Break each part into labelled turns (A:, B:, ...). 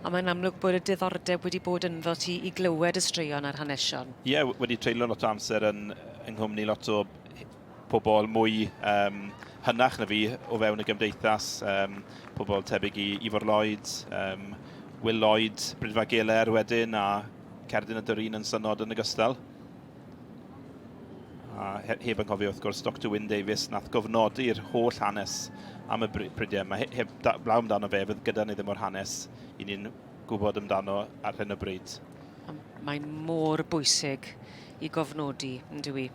A: A mae'n amlwg bod y diddordeb wedi bod ynddo ti i glywed y straeon a'r hanesion. Ie, wedi treulio
B: lot o amser yn yng nghwmni lot o pobl mwy um, hynach na fi o fewn y gymdeithas, um, pobl tebyg i Ifor Lloyd, um, Will Lloyd, Brydfa Geler wedyn, a Cerdyn y Dwrin yn synod yn ogystal. A heb yn cofio, wrth gwrs, Dr Wyn Davies, nath gofnodi'r holl hanes am y bridiau yma. Heb blaw amdano fe, fydd gyda ni ddim o'r hanes i ni'n gwybod amdano ar hyn o bryd. Mae
A: mor bwysig i gofnodi, yn dwi,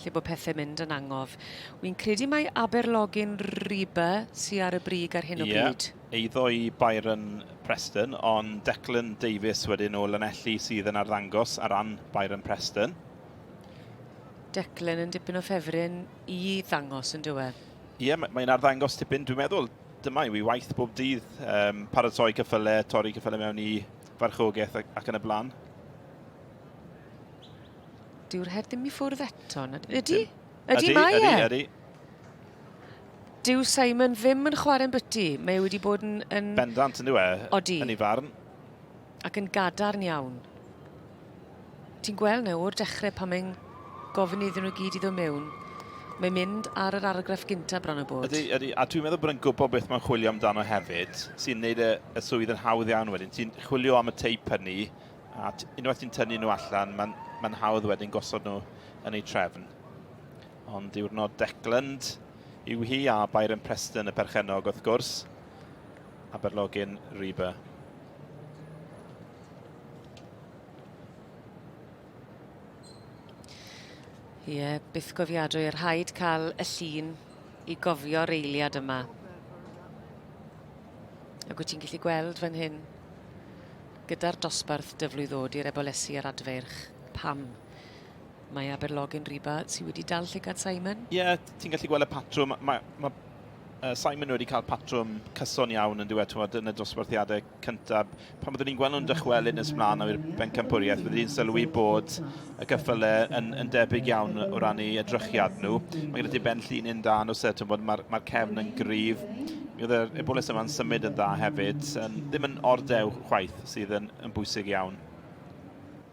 A: lle bod pethau mynd yn angof. Wy'n credu mae Aberlogyn Riba sy'n ar y brig ar hyn o bryd. Yeah. eiddo i
B: Byron Preston, ond Declan Davies wedyn o Lanelli sydd yn arddangos ar ran Byron Preston.
A: Declan yn dipyn o ffefryn i ddangos yn diwedd. Ie, yeah, mae'n
B: arddangos tipyn. Dwi'n meddwl dyma yw i waith bob dydd, um, paratoi cyffyle, torri cyffyle mewn i farchogaeth ac, ac yn y blaen.
A: Dyw'r her ddim i ffwrdd eto. Ydy? Ydy, mae e. Ydy, ydy. Dyw Simon ddim yn chwarae'n byty. Mae wedi bod yn... yn... Bendant yn dweud e,
B: Odi. yn ei farn. Ac yn
A: gadarn iawn. Ti'n gweld na o'r dechrau pan mae'n gofyn iddyn nhw gyd i ddod mewn, mae'n mynd ar yr argraff gyntaf bron o bod. Ydy, ydy. A dwi'n meddwl bod yn
B: gwybod beth mae'n chwilio amdano hefyd, sy'n neud y, y swydd yn hawdd iawn wedyn. Ti'n chwilio am y teip hynny, a unwaith ti'n tynnu nhw allan, mae'n ma hawdd wedyn gosod nhw yn ei trefn. Ond diwrnod Decland yw hi a Byron Preston y perchennog wrth gwrs. Aberlogyn Reba. Ie,
A: yeah, byth gofiadwy, yr rhaid cael y llun i gofio'r eiliad yma. Ac wyt ti'n gallu gweld fan hyn, gyda'r dosbarth dyflwydd ddod i'r ebolesi a'r adfeirch, pam? Mae Aberlog yn riba. Ti wedi dal llygad Simon? Ie, yeah, ti'n gallu gweld y
B: patrwm. Mae, mae uh, Simon wedi cael patrwm cyson iawn yn dweud, twod, yn y dosbarthiadau cyntaf. Pan byddwn ni'n gweld nhw'n dychwelyd nes mlaen o'r bencampwriaeth, byddwn ni'n sylwi bod y gyffyle yn, yn debyg iawn o ran ei edrychiad nhw. Mae gyda ti ben llun un da nhw set, mae'r ma, ma cefn yn gryf. Mi oedd yr ebolus yma'n symud yn dda hefyd. Um, ddim yn ordew chwaith sydd yn, yn bwysig iawn.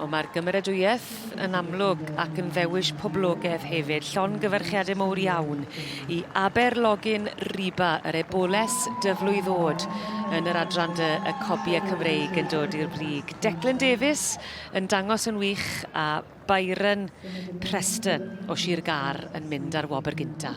A: O, mae'r gymeradwyaeth yn amlwg ac yn ddewis poblogaidd hefyd. Llon gyfarchiadau mowr iawn i Aber Login Riba, yr eboles dyflwy ddod yn yr adran dy y cobiau Cymreig yn dod i'r brig. Declan Davies yn dangos yn wych a Byron Preston o Sir Gar yn mynd ar wobr gynta.